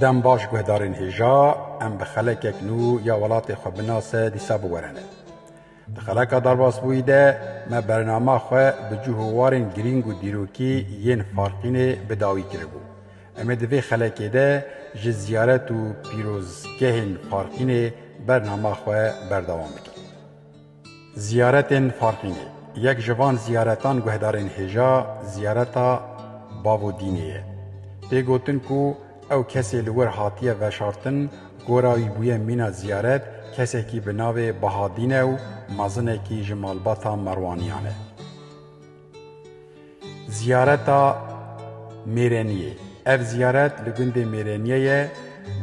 Dem baş guhdarên hêja em bi xelekek nû ya welatê xwe binase dîsa biwerene. Di xeleka derbasbûyî de me bernama xwe bi cih û warên girîng û dîrokî yên Farqînê bi dawî kiribû. Em ê di vê xelekê de ji ziyaret û pîrozgehên Farqînê bernama xwe berdewam bikin. Ziyaretên Farqînê, Yek ji van ziyaretan guhdarên hêja ziyareta Bavo Dînê ye. Tê gotin ku ew kesê li wir hatiye veşartin, gora wî bûye mîna ziyaret, kesekî bi navê Baha Dîn e û mezinekî ji malbata Merwaniyan e. Ziyareta Mêreniyê Ev ziyaret li gundê Mêreniye ye.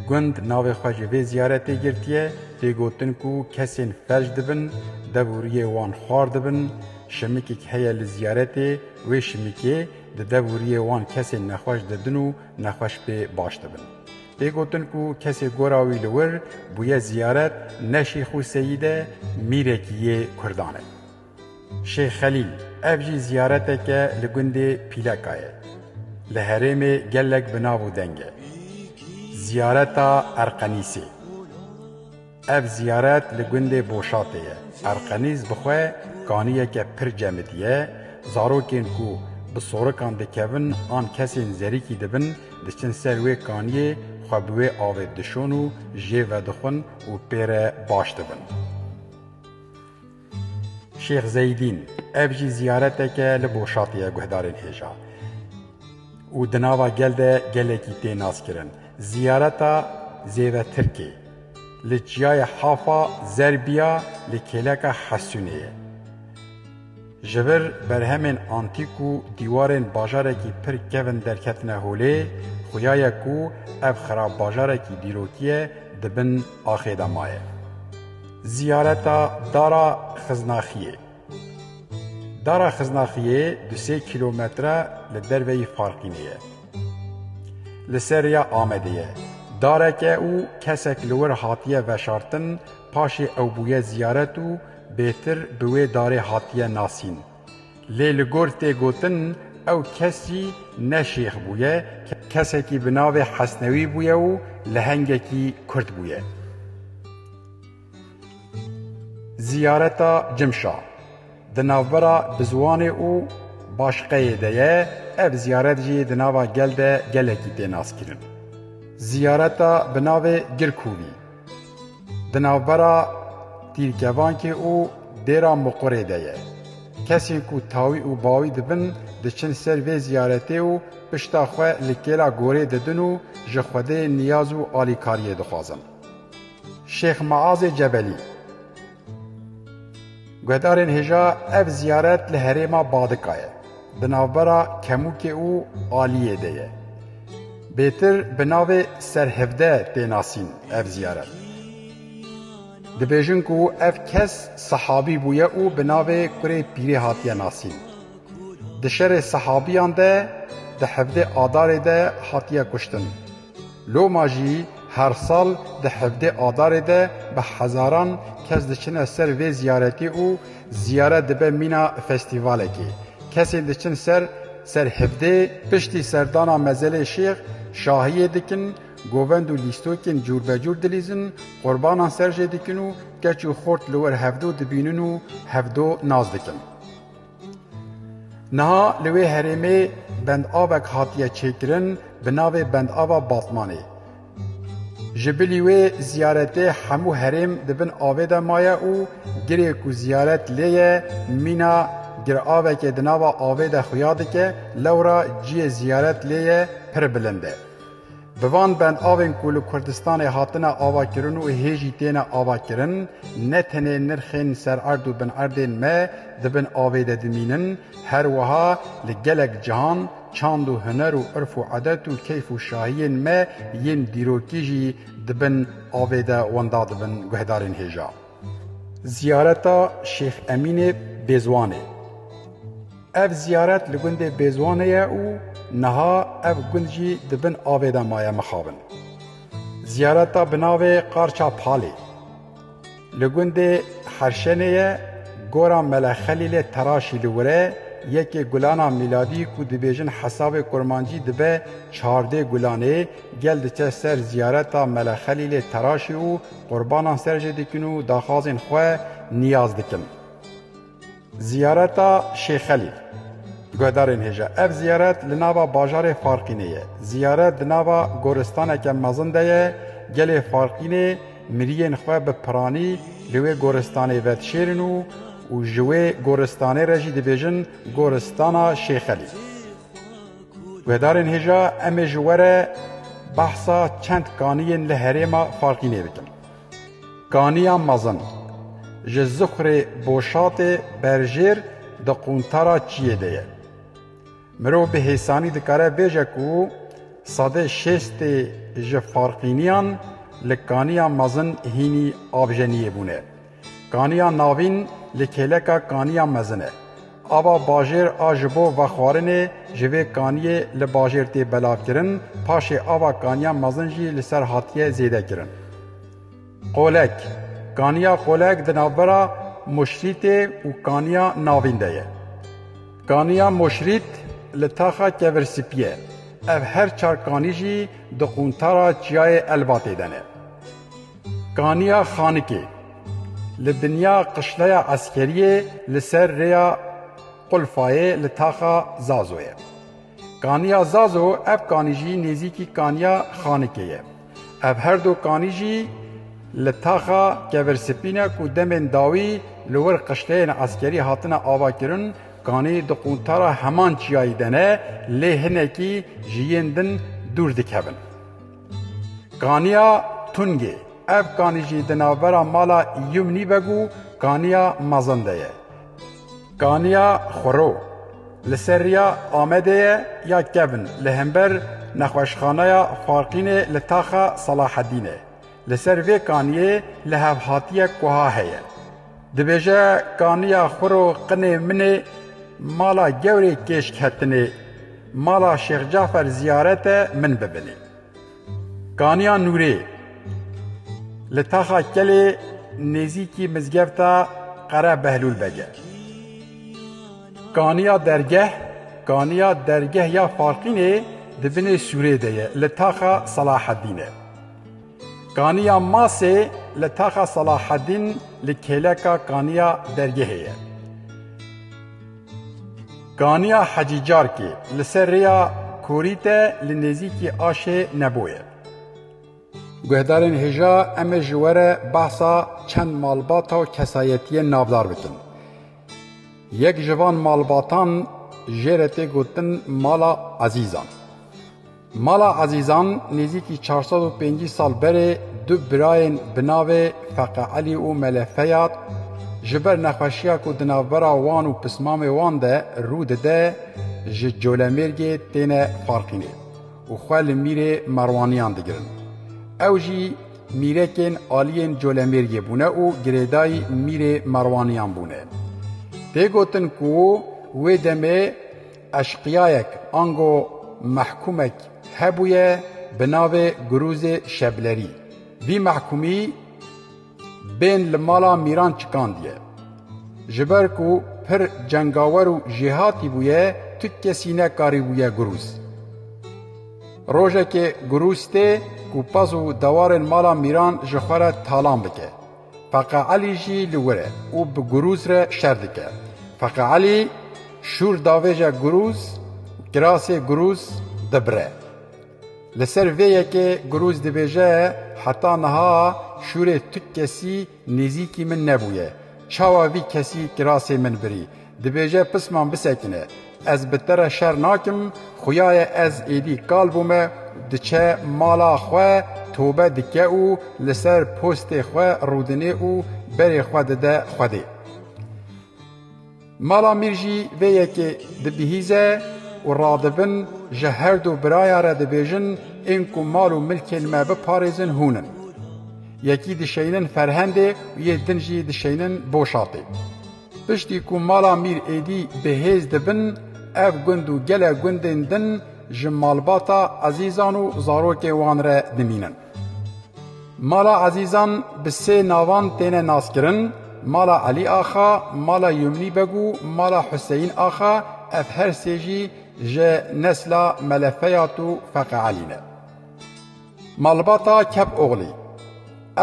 Gund navê xwe ji vê ziyaretê girtiye. Tê gotin ku kesên felc dibin, dev û riyê wan xwar dibin. Şimikek heye li ziyaretê, wê şimikê di dev û riyê wan kesên nexweş didin û nexweş pê baş dibin. Tê gotin ku kesê gora wî li wir bûye ziyaret ne Şêxû Seyîd e, mîrekî yê Kurdan e. Şêx Xelîl, ev jî ziyareteke li gundê Pîleka ye. Li herêmê gelek bi nav û deng e. Ziyareta Erqenîsê, Ev ziyaret li gundê Boşatê ye. Erqenîs bi xwe kaniyeke pir cemidî ye, zarokên ku bi sorikan dikevin an kesên zerîkî dibin diçin ser wê kaniyê xwe bi wê avê dişon û jê vedixwin û pê re baş dibin. Şêx Zeydîn, ev jî ziyareteke li Boşatê ye guhdarên hêja û di nava gel de gelekî tê naskirin. Ziyareta Zêve Tirkê li çiyayê Hafa Zerbiya li kêleka Hesûnê ye. Ji vir berhemên antîk û dîwarên bajarekî pir kevn derketine holê, xuya ye ku ev xirabbajarekî dîrokî ye di bin axê de maye. Ziyareta Dara Xiznaxiyê Dara Xiznaxiyê du sê kîlometre li derveyî Farqînê ye. Li ser rêya Amedê ye. Darek e û kesek li wir hatiye veşartin, paşê ew bûye ziyaret û bêtir bi wê darê hatiye nasîn. Lê li gor tê gotin ew kesî ne şêx bûye, kesekî bi navê Hesnewî bûye û lehengekî Kurd bûye. Ziyareta Cimşa di navbera Biziwanê û Başiqeyê de ye, ev ziyaret jî di nava gel de gelekî tê naskirin. Ziyareta bi navê Girkûvî. Di navbera Tîrkevankê û Dêra Muqurê de ye. Kesên ku tawî û bawî dibin diçin ser vê ziyaretê û pişta xwe li kêla gorê didin û ji Xwedê niyaz û alîkariyê dixwazin. Şêx Meazê Cebelî. Guhdarên hêja ev ziyaret li herêma Badika ye, di navbera Kemûkê û Aliyê de ye. Bêtir bi navê Serhevde tê nasîn ev ziyaret. Dibêjin ku ev kes sehabî bûye û bi navê Kurê Pîrê hatiye nasîn. Di şerê sehabiyan de di hevdê Adarê de hatiye kuştin. Loma jî her sal di hevdê Adarê de bi hezaran kes diçine ser vê ziyaretê û ziyaret dibe mîna festîvalekê. Kesên diçin ser ser hevdê piştî serdana mezelê Şêx Şahiyê dikin, govend û lîstokên cûrbecûr dilîzin, qurbanan ser jê dikin û keç û xort li wir hevdo dibînin û hevdo nas dikin. Niha li wê herêmê bendavek hatiye çêkirin bi navê Bendava Batmanê. Ji bilî wê ziyaretê hemû herêm di bin avê de maye û girê ku ziyaret lê ye mîna giravekê di nava avê de xuya dike, lewra ciyê ziyaret lê ye pir bilind e. Bi van bendavên ku li Kurdistanê hatine avakirin û hê jî têne avakirin, ne tenê nirxên sererd û binerdên me di bin avê de dimînin, her wiha li gelek cihan çand û huner û irf û edet û keyf û şahiyên me yên dîrokî jî di bin avê de wenda dibin guhdarên hêja. Ziyareta Şêx Emînê bêziwan e. Ev ziyaret li gundê Bêzwanê ye û niha ev gund jî di bin avê de maye mixabin. Ziyareta bi navê Qarça Palê li gundê Herşenê ye, gora Mele Xelîlê Teraşî li wir e, yekê gulana mîladî ku dibêjin hesabê kurmancî dibe çardê gulanê, gel diçe ser ziyareta Mele Xelîlê Teraşî û qurbanan ser jê dikin û daxwazên xwe niyaz dikin. Ziyareta Şêx Xelîl. Guhdarên hêja, ev ziyaret li nava bajarê Farqînê ye. Ziyaret di nava goristaneke mezin de ye, gelê Farqînê miriyên xwe bi piranî li wê goristanê vedişêrin û û ji wê goristanê re jî dibêjin Goristana Şêx Xelîl. Guhdarên hêja, em ê ji we re behsa çend kaniyên li herêma Farqînê bikin. Kaniya mezin, ji Zixurê Boşatê berjêr di quntara çiyê de ye. Mirov bi hêsanî dikare bêje ku sedê şêstê ji farqîniyan li kaniya mezin hînî avjeniyê bûne. Kaniya navîn li kêleka kaniya mezin e. Ava bajêr a ji bo vexwarinê ji vê kaniyê li bajêr tê belavkirin, paşê ava kaniya mezin jî li ser hatiye zêdekirin. Qolek, Kaniya Qolek di navbera Moşrîtê û Kaniya Navîn de ye. Kaniya Moşrît li taxa Kevirsipî ye. Ev her çar kanî jî di quntara Çiyayê Elbatê de ne. Kaniya Xanikê li dinya qişleya eskeriyê li ser rêya Qulfayê li taxa Zazo ye. Kaniya Zazo ev kanî jî nêzîkî kaniya Xanikê ye. Ev her du kanî jî li taxa Kevirspî ne ku demên dawî li wir qişleyên eskerî hatine avakirin, kanî di quntara heman çiyayî de ne lê hinekî ji yên din dûr dikevin. Kaniya Tungê, Ev kanî jî di navbera mala Yumnî Beg û Kaniya Mezin de ye. Kaniya Xuro, li ser rêya Amedê ye ya kevn li hember nexweşxaneya Faqînê li taxa Selahedînê. Li ser vê kaniyê lihevhatiyek wiha heye. Dibêje kaniya xwiro qinê min ê, mala gewrê kêşk hetinê, mala Şêx Cafer ziyarete min bibinê. Kaniya Nûrê li Taxa Kelê nêzîkî mizgefta Qere Behlûl Beg e. Kaniya Dergeh, kaniya dergeh ya Faqînê di binê sûrê de ye li Taxa Selahedîn e. Kaniya Masê li Taxa Selahedîn li kêleka Kaniya Dergehê ye. Kaniya Hecî Carkê li ser rêya Korîte li nêzîkî Aşê Nebo ye. Guhdarên hêja em ê ji we re behsa çend malbata û kesayetiyên navdar bikin. Yek ji van malbatan jê re tê gotin Mala Ezîzan. Mala Ezîzan nêzîkî çar sed û pêncî sal berê du birayên bi navê Feqe Elî û Mele Feyad ji ber nexweşiya ku di navbera wan û pismamê wan de rû dide ji Colemêrgê têne Farqînê û xwe li mîrê Merwaniyan digirin. Ew jî mîrekên aliyên Colemêrgê bûne û girêdayî mîrê Merwaniyan bûne. Tê gotin ku wê demê Eşqiyayek ango mehkûmek hebûye bi navê Gurûzê Şeblerî. Vî mehkûmî bên li mala mîran çikandiye. Ji ber ku pir cengawer û jêhatî bûye tu kesî nekarîbûye Gurûz. Rojekê Gurûz tê ku pez û dewarên mala mîran ji xwe re talan bike. Feqe Elî jî li wir e û bi Gurûz re şer dike. Feqe Elî şûr davêje Gurûz û kirasê Gurûz dibire. Li ser vê yekê Gurûz dibêje, Heta niha şûrê tu kesî nêzîkî min nebûye. Çawa vî kesî kirasê min birî? Dibêje pisman bisekine. Ez bi te re şer nakim, xuya ye ez êdî kal bûme, diçe mala xwe, tobe dike û li ser postê xwe rûdinê û berê xwe dide Xwedê. Mala Mîr jî vê yekê dibihîze û radibin ji herdu birayan re dibêjin ên ku mal û milkên me biparêzin hûn in. Yekî dişeynin Ferhendê û yê din jî dişeynin Boşatê. Piştî ku mala Mîr Êdî bi hêz dibin, ev gund û gelek gundên din ji malbata Ezîzan û zarokên wan re dimînin. Mala Ezîzan bi sê navan têne naskirin, Mala Elî Axa, Mala Yumnî Beg û Mala Huseyîn Axa, ev her sê jî ji nesla Mele Feyat û Feqi Elî ne. Malbata Kepoglî,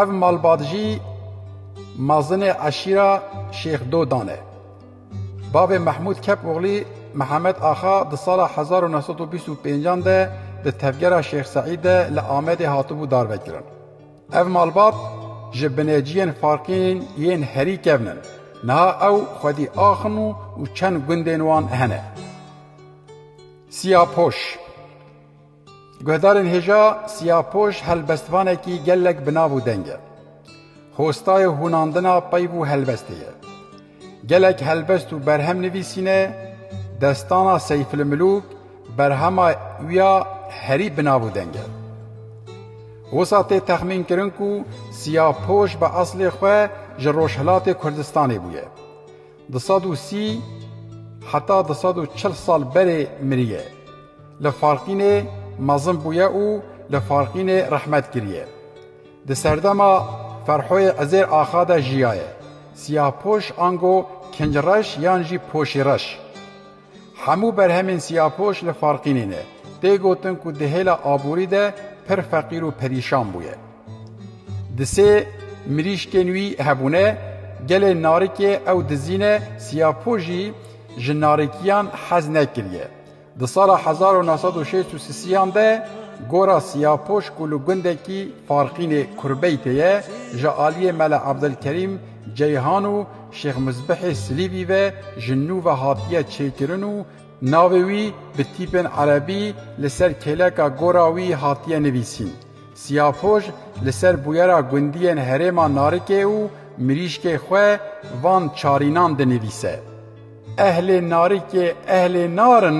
Ev malbat jî mazinê eşîra Şêx Dodan e. Bavê Mehmûd Kepoglî Mihemed Axa di sala hezar û neh sed û bîst û pênc an de di tevgera Şêx Seîd de li Amedê hatibû darvekirin. Ev malbat ji bineciyên Farkîn yên herî kevn in. Niha ew xwedî axn û çend gundên wan hene. Siyapoş. Guhdarên hêja Siyapoş helbestvanekî gelek bi nav û deng e. Hostayê hûnandina peyv û helbestê ye. Gelek helbest û berhem nivîsîne, destana Seyfilmilûk berhema wî ya herî bi nav û deng e. Wisa tê texmînkirin ku Siyapoş bi eslê xwe ji Rojhilatê Kurdistanê bûye. Du sed û sî heta du sed û çil sal berê miriye. Li Farqînê mezin bûye û li Farqînê rehmet kiriye. Di serdema Ferhoyê Ezêr Axa de jiyaye. Siyahpoş ango kincreş yan jî poşîreş. Hemû berhemên siyapoş li Farqînê ne. Tê gotin ku di hêla aborî de pir feqîr û perîşan bûye. Di sê mirîşkên wî hebûne, gelê narikê ew dizîne, siyapoş jî ji narikiyan hez nekiriye. Di sala hezar û neh sed û şêst û sisiyan de gora siyapoş ku li gundekî Farqînê Kurbeytê ye ji aliyê Mele Ebdilkerîm Ceyhan û Şêx Mizbihê Silîbî ve ji nû ve hatiye çêkirin û navê wî bi tîpên erebî li ser kêleka gora wî hatiye nivîsîn. Siyapoj li ser bûyera gundiyên herêma Narikê û Mirîşkê xwe van çarînan dinivîse, Ehlê Narikê ehlê nar in.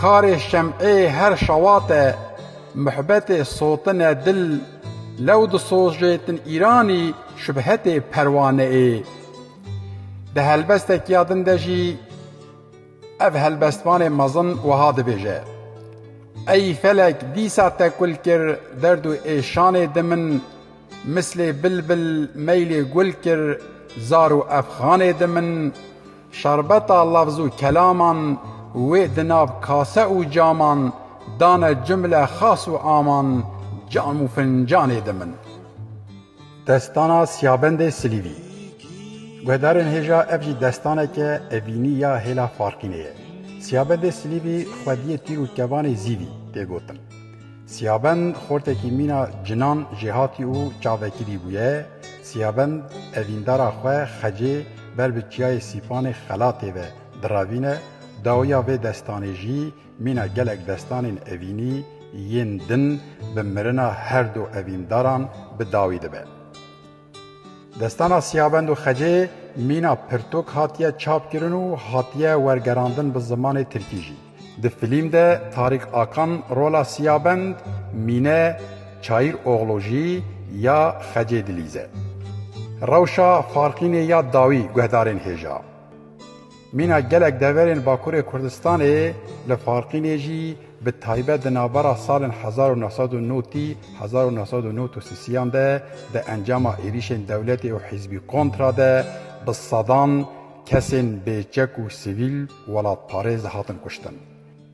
Karê şem'ê her şewate muhbetê sotine dil lew disojêtin îranî şubhetê perwane'ê Di helbestekîya din de jî ev helbestvanê mezin wiha dibêje, Ey felek dîsa tekul kir derd û êşanê di min Mislê bilbil meylê gul kir zar û efxanê di min Şerbeta lafz û kelaman Wê di nav kase û caman Dane cumle xas û aman Cam û fincanê di min. Destana Siyabendê Silîvî Guhdarên hêja ev jî destaneke evînî ya hêla Farqînê ye. Siyabendê Silîvî xwediyê tîr û kevanê Zîvî tê gotin. Siyabend xortekî mîna cinan jêhatî û çavekirî bûye. Siyabend evîndara xwe Xecê ber bi Çiyayê Sîpanê xelatê ve diravîne, dawiya vê destanê jî mîna gelek destanên evînî yên din bi mirina herdu evîndaran bi dawî dibe. Destana Siyabend û Xecê mîna pirtûk hatiye çapkirin û hatiye wergerandin bi zimanê tirkî jî. Di filîm de Tarîk Akan rola Siyabend, mîne Çayîr Oglu jî ya Xecê dilîze. Rewşa farqînê ya dawî guhdarên hêja. Mîna gelek deverên Bakurê Kurdistanê li Farqînê jî bi taybet di navbera salên hezar û neh sed û nod û hezar û neh sed û nod û sisiyan de di encama êrîşên dewletê û hîzbî kontra de bi sedan kesên bêçek û sivîl welatparêz hatin kuştin.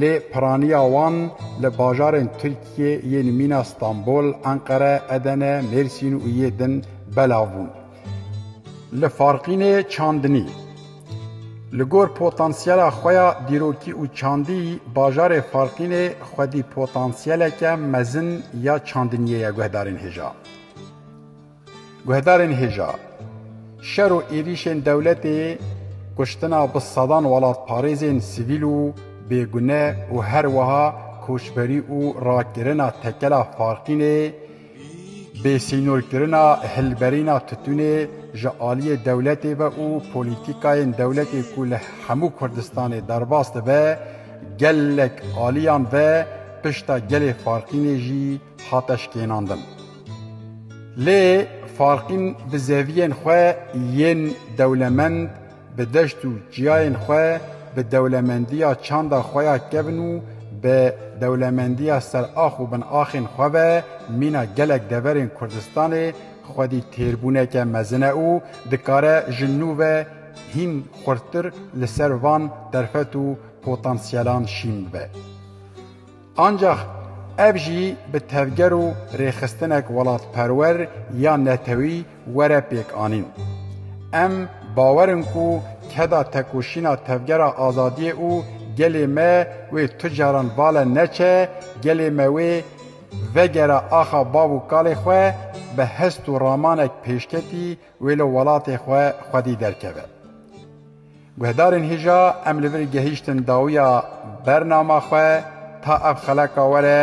Lê piraniya wan li bajarên Tirkiyê yên mîna Stenbol, Enqere, Edene, Mêrsîn û yê din belav bûn. Li Farqînê çandinî. Li gor potansiyela xwe ya dîrokî û çandî bajarê Farqînê xwedî potansiyeleke mezin ya çandiniyê ye guhdarên hêja. Guhdarên hêja, şer û êrîşên dewletê kuştina bi sedan welatparêzên sivîl û bêgune û her wiha koçberî û rakirina tekela Farqînê, bêsînorkirina hilberîna titûnê ji aliyê dewletê ve û polîtîkayên dewletê ku li hemû Kurdistanê derbas dibe, gelek aliyan ve pişta gelê Farqînê jî hate şkênandin. Lê Farqîn bi zeviyên xwe yên dewlemend bi deşt û çiyayên xwe bi dewlemendiya çanda xwe ya kevn û bi dewlemendiya serax û binaxên xwe ve mîna gelek deverên Kurdistanê xwedî têrbûneke mezin e û dikare ji nû ve hîn xurttir li ser van derfet û potansiyelan şîn bibe. Ancax ev jî bi tevger û rêxistinek welatperwer ya netewî were pêkanîn. Em bawer in ku keda tekoşîna tevgera azadiyê û gelê me wê tu caran vale neçe, gelê me wê vegere axa bav û kalê xwe bi hest û ramanek pêşketî, Wê li welatê xwe xwedî derkeve. Guhdarên hêja em li vir gehîştin dawiya bernama xwe ta ev xeleka were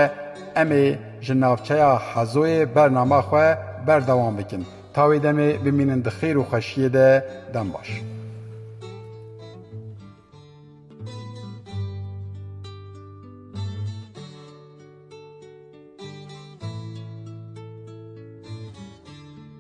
em ê ji navçeya Hezoyê bernama xwe berdewam bikin ta wê demê bimînin di xêr û xweşiyê de dem baş.